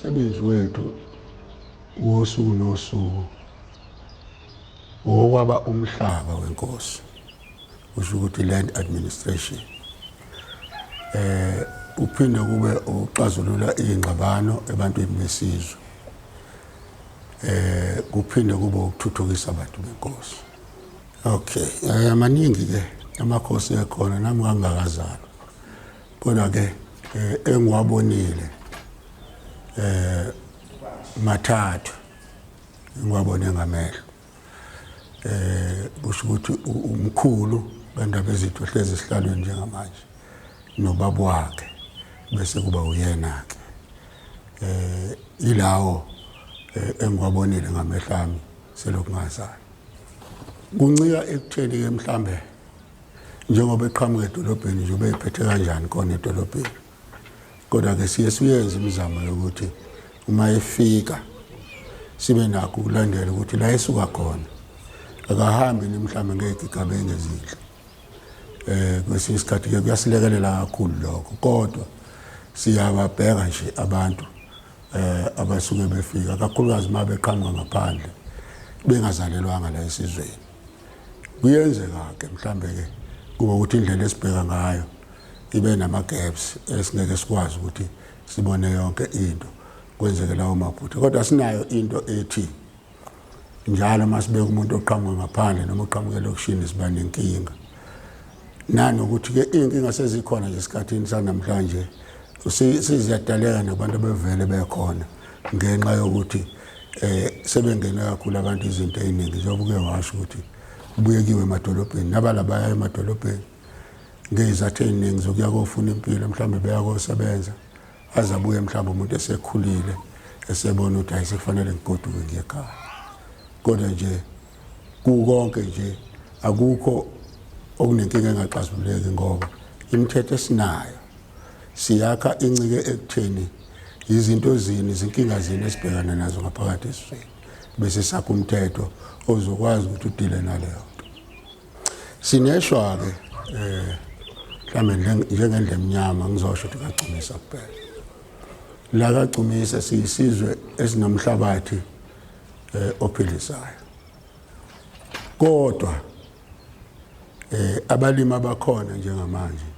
umsebenzi wethu wosuku nosuku okwaba umhlaba wenkosi usho ukuthi land administration eh uphinde kube ukuxazulula ingxabano ebantwini besizwe eh kuphinde kube ukuthuthukisa abantu benkosi okay eh, amaningi ke amakhosi ekhona nami ngangakazalwa kodwa ke eh, engiwabonile eh mathathu engiwabone ngamehlo eh kusho ukuthi umkhulu bendaba ezithu hlezi esihlalweni njengamanje nobaba wakhe bese kuba uyena ke eh ilawo eh, engiwabonile ngamehlo ami selokhu ngazana kuncika ekutheni ke mhlambe njengoba eqhamuka edolobheni nje ubeyiphethe kanjani khona edolobheni kodwa-ke siye siyenze imizamo yokuthi uma efika sibe nakho ukulandela ukuthi la esuka khona akahambi ni mhlawumbe ngey'gigaba engezinhle um kwesinye isikhathi-ke kuyasilekelela kakhulu lokho kodwa siyababheka nje abantu um abasuke befika kakhulukazi uma beqhamuka ngaphandle bengazalelwanga la esizweni kuyenzeka-ke mhlawumbe-ke kube ukuthi indlela esibheka ngayo ibe nama-gaps esingeke sikwazi ukuthi sibone yonke into kwenzeke lawo maphutha kodwa sinayo into ethi njalo uma sibeka umuntu oqhamuke ngaphandle noma oqhamuke elokishini siba nenkinga nani ukuthi ke iy'nkinga sezikhona nje esikhathini sanamhlanje siziyadaleka nabantu abevele bekhona ngenxa yokuthi um sebengene kakhulu abantu izinto ey'ningi njengoba uke washo ukuthi kubuyekiwe emadolobheni nabala baya emadolobheni ngey'zathu ey'ningi zokuya kofuna impilo mhlawumbe beya kosebenza aze abuye mhlawumbe umuntu esekhulile esebona ukuthi hayi sekufanele ngigoduke ngiyekhaya kodwa nje Kukonke nje akukho okunenkinga engaxazululeki ngoba imithetho esinayo siyakha incike ekutheni yizinto zini izinkinga zini esibhekana nazo ngaphakathi esizweni bese sakha umthetho ozokwazi ukuthi udile naleyo nto sineshwa-ke um eh, mhlawumbe njengendla emnyama ngizosho ukuthi kagcumisa kuphela la kagcumisa siyisizwe esinomhlabathi eh ophilisayo kodwa eh abalimi abakhona njengamanje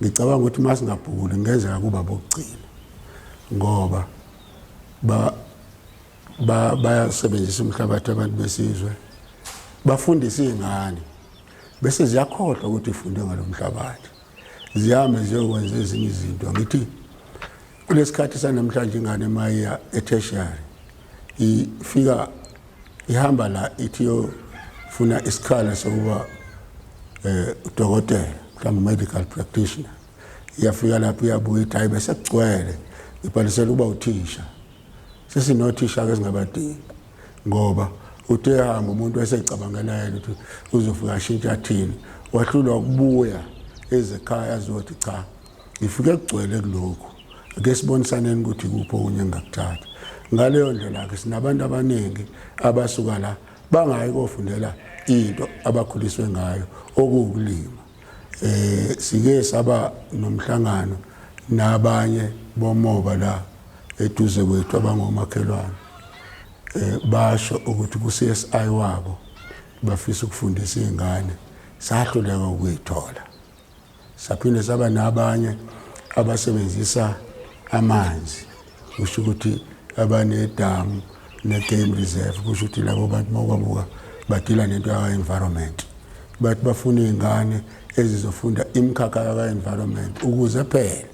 ngicabanga ukuthi masingabhuli ngenzeka kuba bokugcina ngoba ba bayasebenzisa umhlabathi abantu besizwe bafundisa iy'ngane bese ziyakhohlwa ukuthi ifunde ngalo mhlabathi zihambe ziyokwenza ezinye izinto ngithi kulesikhathi sanamhlanje ingane mayiya etertiary ifika ihamba la ithi yofuna isikhala sokuba eh udokotela mhlawumbe medical practitioner iyafika lapho iyabuya ithi hayi bese kugcwele ibhalisela ukuba uthisha sesinothisha ke singabadingi ngoba uthe hamba umuntu esecabangela yena ukuthi uzofika ashintsha athini wahlulwa ukubuya ezekhaya azothi cha ngifike kugcwele kulokhu ake sibonisaneni ukuthi kuphi okunye engakuthatha ngaleyo ndlela-ke sinabantu abaningi abasuka la bangayi kofundela into abakhuliswe ngayo okuwukulima Eh sike saba nomhlangano nabanye bomoba la eduze kwethu abangomakhelwane. Eh basho ukuthi ku CSI wabo bafisa ukufundisa izingane sahluleka ukuyithola. Saphinde saba nabanye abasebenzisa amanzi kusho ukuthi abanedamu ne-game reserve kusho ukuthi labo bantu mawukabuka badila nento yaka-environment bathi bafuna iy'ngane ezizofunda imikhakha yaka-environment ukuze phela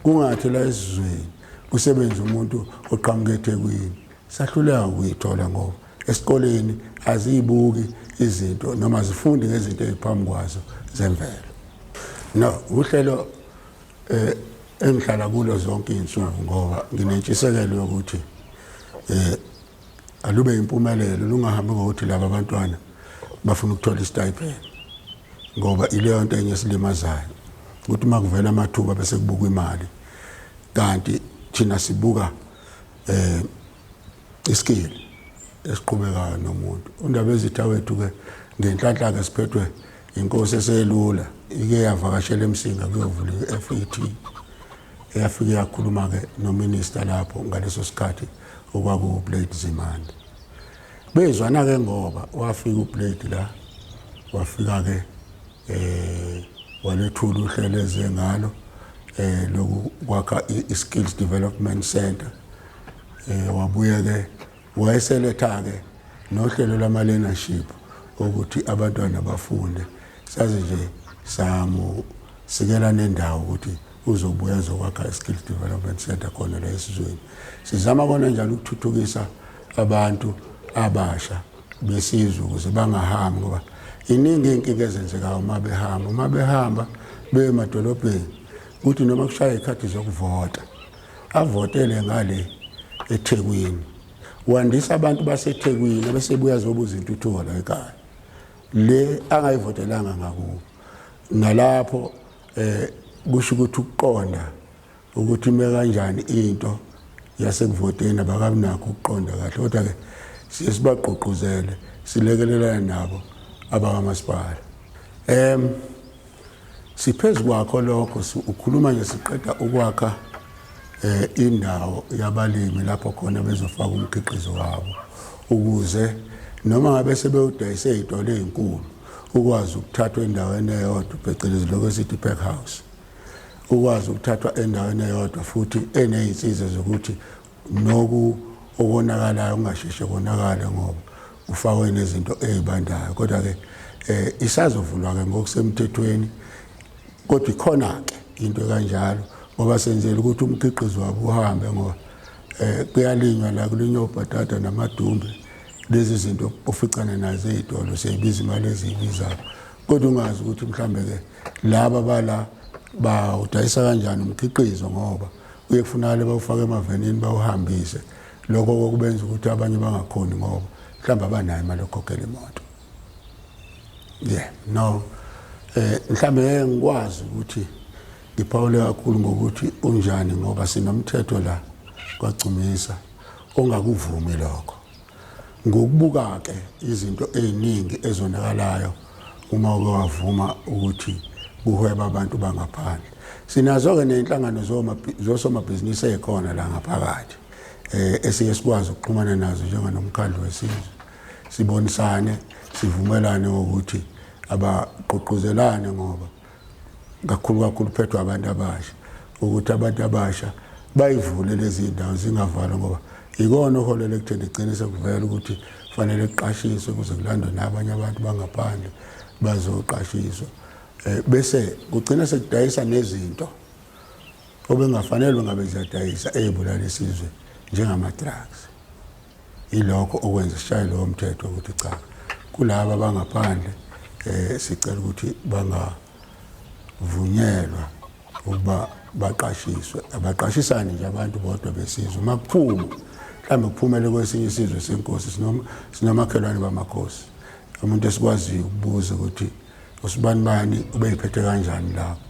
kungathi la esizweni kusebenza umuntu oqhamuke ethekwini sahluleka ukuyithola ngoba esikoleni aziyibuki izinto noma zifunde ngezinto eziphambi kwazo zemvelo no uhlelo eh engihlala kulo zonke izinsuku ngoba nginentshisekelo yokuthi eh alube impumelelo lungahambi ngokuthi laba bantwana bafuna ukuthola istipend ngoba ileyo nto enye esilimazayo ukuthi uma kuvela amathuba bese kubukwa imali kanti thina sibuka eh iskili esiqhubekayo nomuntu undaba ezitha wethu ke ngenhlanhla ke siphethwe inkosi eselula ike yavakashela emsinga kuyovula i-fet eyafike yakhuluma-ke nominista lapho ngaleso sikhathi okwakuwublade zimande bezwana-ke ngoba wafika ublade la wafika-ke um walethula uhlelo eze ngalo um lokwakha i-skills development center um wabuye-ke Wayeseletha-ke nohlelo lama-learnership okuthi abantwana bafunde saze nje samusikela nendawo ukuthi uzobuya zokwakha i-skills development center khona la esizweni sizama kona njalo ukuthuthukisa abantu abasha besizwe ukuze bangahambi ngoba iningi iy'nkinga ezenzekayo uma behamba uma behamba beye emadolobheni kuthi noma kushaya iy'khathi zokuvota avotele ngale eThekwini wandisa abantu baseThekwini abesebuya zobuza intuthuko la ekhaya le angayivotelanga ngakubo nalapho eh kusho ukuthi ukuqonda ukuthi ime kanjani into yasekuvoteni abakamnakho ukuqonda kahle kodwa ke siye sibagqugquzele silekelelana nabo abakamasipala em Siphezu kwakho lokho ukhuluma nje siqeda ukwakha eh indawo yabalimi lapho khona bezofaka umkhiqizo wabo ukuze noma ngabe sebewudayise izitolo ezinkulu ukwazi ukuthathwa endaweni eyodwa phecelezi lokho esithi pack house ukwazi ukuthathwa endaweni eyodwa futhi enezinsiza zokuthi Noku okonakalayo kungasheshe konakale ngoba kufakwe nezinto ezibandayo kodwa ke eh isazovulwa ke ngokusemthethweni kodwa ikhona ke into kanjalo ngoba senzele ukuthi umkhiqizo wabo uhambe ngoba eh kuyalinywa la kulinywa ubhatata namadumbe lezi zinto oficana nazo ezitolo seyibiza imali eziyibizayo kodwa ungazi ukuthi mhlambe ke laba bala bawudayisa kanjani umkhiqizo ngoba Kuye kufunakale bawufake emavenini bawuhambise lokho kokubenza ukuthi abanye bangakhoni ngoba mhlawumbe abanayo imali yokukhokhela imoto yeah no eh mhlawumbe ngikwazi ukuthi ngiphawule kakhulu ngokuthi unjani ngoba sinomthetho la kwagcumisa ongakuvumi lokho Ngokubuka-ke izinto eziningi ezonakalayo uma uke wavuma ukuthi kuhweba abantu bangaphandle sinazo-ke ney'nhlangano zosomabhizinisi ey'khona la ngaphakathi um esiye sikwazi ukuxhumana nazo njenganomkhandlu wesizwe sibonisane sivumelane ngokuthi abagqugquzelane ngoba kakhulu kakhulu phethwa abantu abasha ukuthi abantu abasha bayivule lezi ndawo zingavalwa ngoba yikona oholela ekutheni igcine sekuvela ukuthi kufanele kuqashiswe kuze kulandwe nabanye abantu bangaphandle bazoqashiswa um bese kugcina sekudayisa nezinto obengafanele ngabe ziyadayisa ey'bulala isizwe njengama-drugs Yilokho okwenza sishaye lowo mthetho ukuthi cha kulaba abangaphandle eh sicela ukuthi bangavunyelwa ukuba baqashiswe abaqashisani nje abantu bodwa besizwe uma kuphuma mhlawumbe kuphumele kwesinye isizwe senkosi sinomakhelwane bamakhosi umuntu esikwaziyo ukubuza ukuthi usibanibani ubeyiphethe kanjani lapho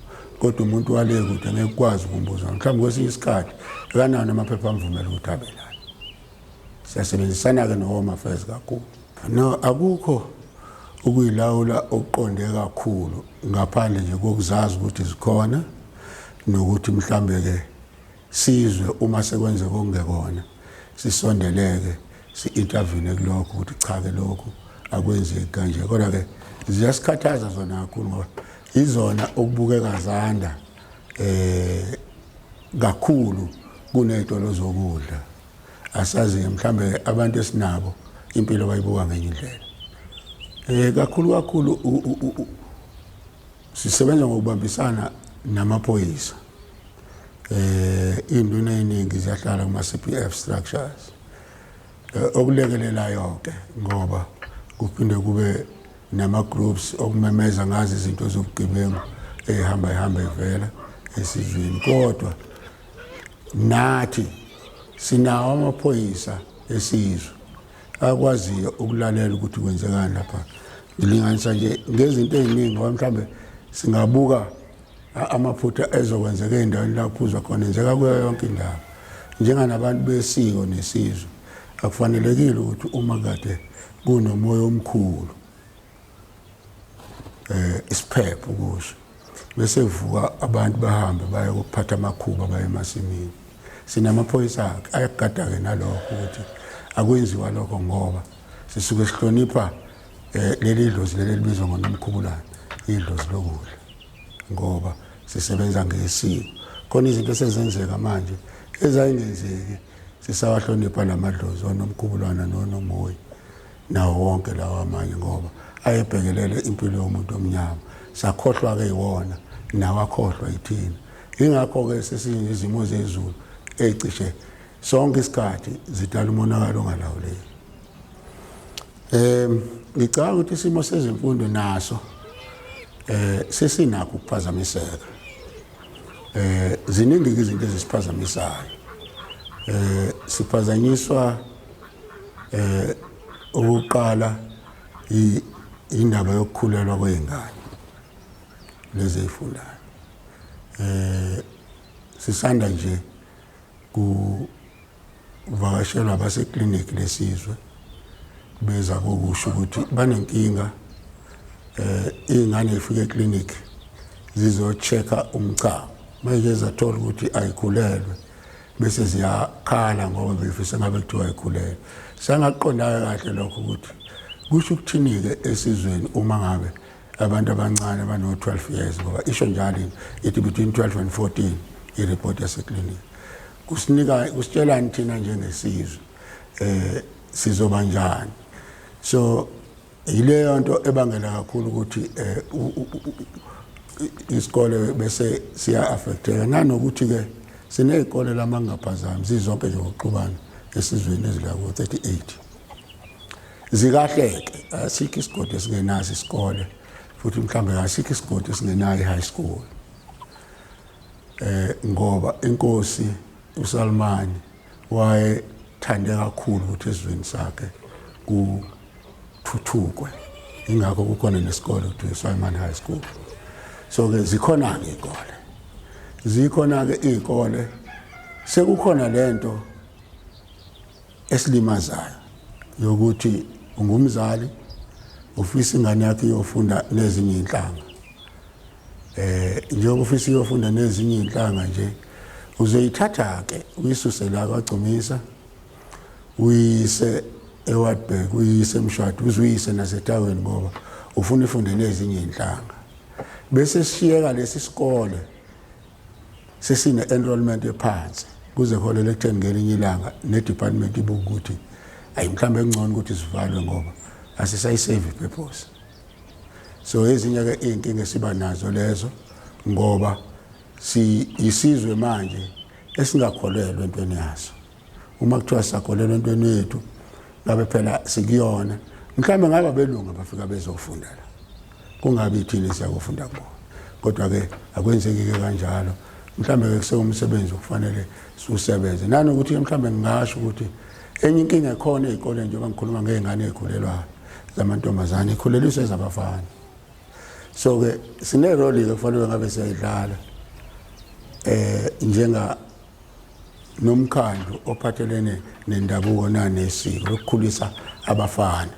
kodwa umuntu wale kude ngeke ukwazi ukumbuza mhlawumbe kwesinye isikhathi ekanawo amaphepha amvumela ukuthi abe lana siyasebenzisana-ke nehome affairs kakhulu no akukho ukuyilawula okuqonde kakhulu ngaphandle nje kokuzazi ukuthi zikhona nokuthi mhlambe-ke Sizwe uma sekwenzeka okungekona, sisondeleke, si-intervene kulokho ukuthi cha-ke lokhu akwenzeki kanje. Kodwa-ke ziyasikhathaza zona kakhulu ngoba izona okubukeka zanda eh kakhulu kuney'tolo zokudla asazi-ke mhlawumbe abantu esinabo impilo bayibuka ngenye indlela um kakhulu kakhulu Sisebenza ngokubambisana namaphoyisa eh induna eningi ziyahlala kuma CPF structures eh, okulekelelayo ke ngoba kuphinde kube nama groups okumemeza ngazi izinto zobugebengu ehamba ihamba ivela esizweni kodwa nathi sinawo amaphoyisa esizwe akwaziyo ukulalela ukuthi kwenzekani lapha ngilinganisa nje ngezinto eziningi ngoba mhlawumbe singabuka amaphutha ezokwenzeka endaweni la kuphuzwa khona enzeka kuyo yonke indawo njenganabantu besiko nesizwe akufanelekile ukuthi uma kade kunomoya omkhulu eh isiphepho kusho bese vuka abantu bahambe baye kuphatha amakhuba baye emasimini sinamaphoyisa akhe ayagada-ke nalokho ukuthi akwenziwa lokho ngoba sisuke sihlonipha um leli dlozi leli elibizwa ngonomkhubulana idlozi lokudla ngoba sisebenza ngesiko khona izinto esezenzeka manje ezayingenzeki sisawahlonipha la madlozi onomkhubulwana nonomoyi nawo wonke lawa amanye ngoba ayebhekelele impilo yomuntu omnyama sakhohlwa-ke iwona nawakhohlwa yithina yingakho-ke sesiyizimo zezulu ecishe sonke isikhathi zidala umonakalo ongalawuleki um ngicabanga ukuthi isimo sezemfundo naso um sesinakho ukuphazamiseka Eh ziningi izinto ezisiphazamisayo. Eh siphazanyiswa eh ukuqala indaba yokukhulelwa kwezingane lezi ezifundayo. Eh sisanda nje ku Uvakashelwa abaseklinikhi lesizwe beza kokusho ukuthi banenkinga eh ingane ifike eklinikhi zizochecka umchamo manje zathola ukuthi ayikhulelwe bese ziyakhala ngoba befisa ngabe kuthiwa ayikhulelwe sangaqondayo kahle lokho ukuthi kusho ukuthini-ke esizweni uma ngabe abantu abancane abano-12 years ngoba isho njalo ithi between 12 and 14 ireport yaseklinikhi kusinika kusitshelani thina njengesizwe eh sizoba njani so yileyo nto ebangela kakhulu ukuthi eh isikole bese siya affecteka nanokuthi ke sinezikole lama ngaphazami zizonke nje ngokuxubana esizweni ezilako 38 zikahleke asikho isigodi esingenazo isikole futhi mhlawumbe asikho isigodi esingenayo i-high school eh ngoba inkosi uSalmani waye thande kakhulu ukuthi ezweni sakhe ku kuthuthukwe ingakho kukhona nesikole kuthiwa Simon High School so ke zikhona ke ikole zikhona ke ikole sekukhona lento esilimazayo yokuthi ungumzali ufisa ingane yakhe iyofunda nezinye inhlanga eh njengoba ufisa iyofunda nezinye inhlanga nje uzoyithatha ke uyisuse la kwagcumisa uyise eWatberg uyise emshado uzuyise nasetaweni ngoba ufuna ifunde nezinye inhlanga bese sishiyeka lesi sikole sesine-enrollment ephansi kuze kuholele ekutheni ngelinye ilanga ne-department ibuke ukuthi ayi mhlawumbe kungcono ukuthi zivalwe ngoba asisayisevi purpose so ezinye-ke iy'nkinga esiba nazo lezo ngoba siyisizwe manje esingakholelwa entweni yaso uma kuthiwa sisakholelwa entweni yethu ngabe phela sikuyona mhlawumbe ngaba belunga bafika bezofundela kungabi ithini siyakufunda kubo kodwa-ke akwenzeki-ke kanjalo mhlawumbe-ke kusewumsebenzi okufanele siwusebenze nanokuthi mhlawumbe ngingasho ukuthi enye inkinga ekhona ey'koleni njengoba ngikhuluma ngey'ngane ey'khulelwayo zamantombazane ikhuleliswe zabafana so-ke sineroli-ke kufanele ngabe siyayidlala um njenga nomkhandlu ophathelene nendabuko nanesiko lokukhulisa abafana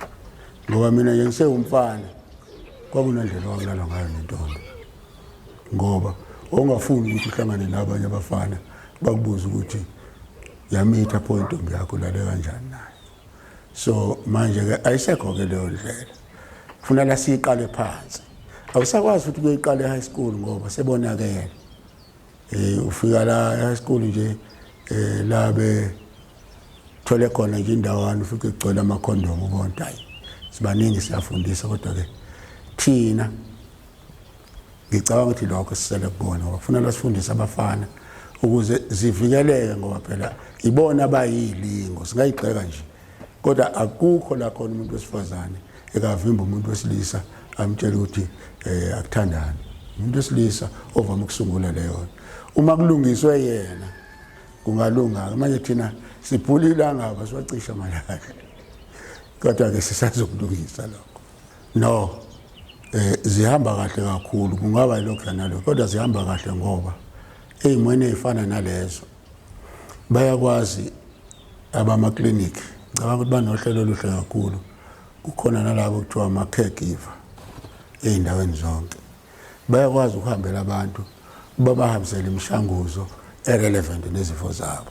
ngoba mina nje ngisewumfana kwakunendlela owakulalwa ngayo nentombi ngoba ongafuni ukuthi uhlangane nabanye abafana bakubuza ukuthi yamitha pho intombi yakho lale kanjani nayo so manje-ke ayisekho-ke leyo ndlela kufuneka siyiqale phansi awusakwazi ukuthi kuyoyiqala e-high school ngoba sebonakele Eh ufika la esiqulu nje eh la be thole khona nje indawana ufike kugcwele ama condom ubonta hayi sibaningi siyafundisa kodwa ke thina ngicabanga ukuthi lokho sisele kubona ngoba kufanele sifundise abafana ukuze zivikeleke ngoba phela ibona abayilingo singayigxeka nje kodwa akukho la khona umuntu wesifazane ekavimba umuntu wesilisa amtshela ukuthi um akuthandani umuntu wesilisa ovame ukusungula leyo uma kulungiswe yena kungalunga-ke manje thina siphula ilangaba siwacisha malaka kodwa-ke sisazokulungisa lokho no eh zihamba kahle kakhulu kungaba yilokho nalokho kodwa zihamba kahle ngoba eyimweni ezifana nalezo bayakwazi abamaklinikhi ngicabanga ukuthi banohlelo oluhle kakhulu kukhona nalabo kuthiwa ama-caregiver ey'ndaweni zonke bayakwazi ukuhambela abantu babahambisele imishanguzo erelevant nezifo zabo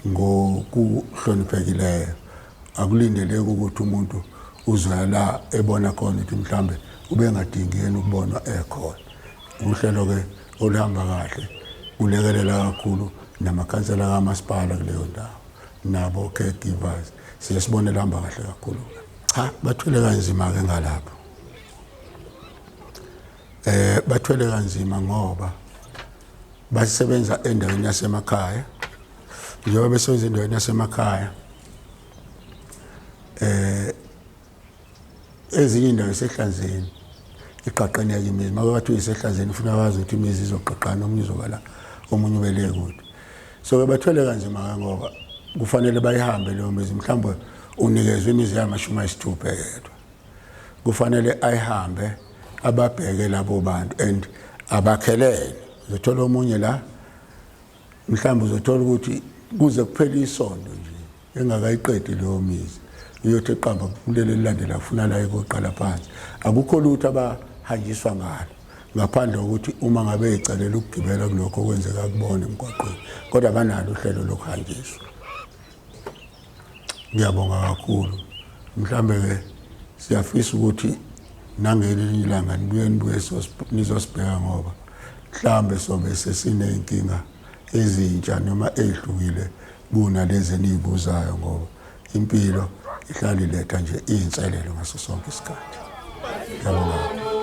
ngokuhloniphekileyo akulindeleki ukuthi umuntu uzwela la ebona khona ukuthi mhlawumbe ubengadingi yena ukubonwa ekhona uhlelo-ke oluhamba kahle kulekelela kakhulu namakhansela kamasipala kuleyo ndawo nabo caregivers siye sibone luhamba kahle kakhulu cha bathwele kanzima-ke ngalapho eh bathwele kanzima ngoba basebenza endaweni yasemakhaya njengoba besebenza endaweni yasemakhaya eh ezinye indawo isehlanzeni iqaqane yake imizi maka bathi uyisehlanzeni ufuna wazi ukuthi imizi izoqaqana omunye uzokala omunye ubele kude so ke bathwele kanzima ke ngoba kufanele bayihambe leyo mizi mhlawumbe unikezwe imizi yamashumi ayisithupha yedwa kufanele ayihambe ababheke labo bantu and abakhelene uzothola omunye la mhlawumbe uzothola ukuthi kuze kuphele isonto nje engakayiqedi leyo mizi uyothi eqamba kuleli elilandela kufuna la ikoqala phansi akukho lutho abahanjiswa ngalo ngaphandle kokuthi uma ngabe ecalela ukugibela kulokho okwenzeka kubona emgwaqweni kodwa banalo uhlelo lokuhanjiswa ngiyabonga kakhulu mhlambe-ke siyafisa ukuthi nangelinye ilanga nibuye nibuye nizosibheka ngoba mhlambe sobe sesiney'nkinga ezintsha noma ezihlukile kuna lezi enizibuzayo ngoba impilo ihlale iletha nje izinselelo ngaso sonke isikhathi. Ngiyabonga.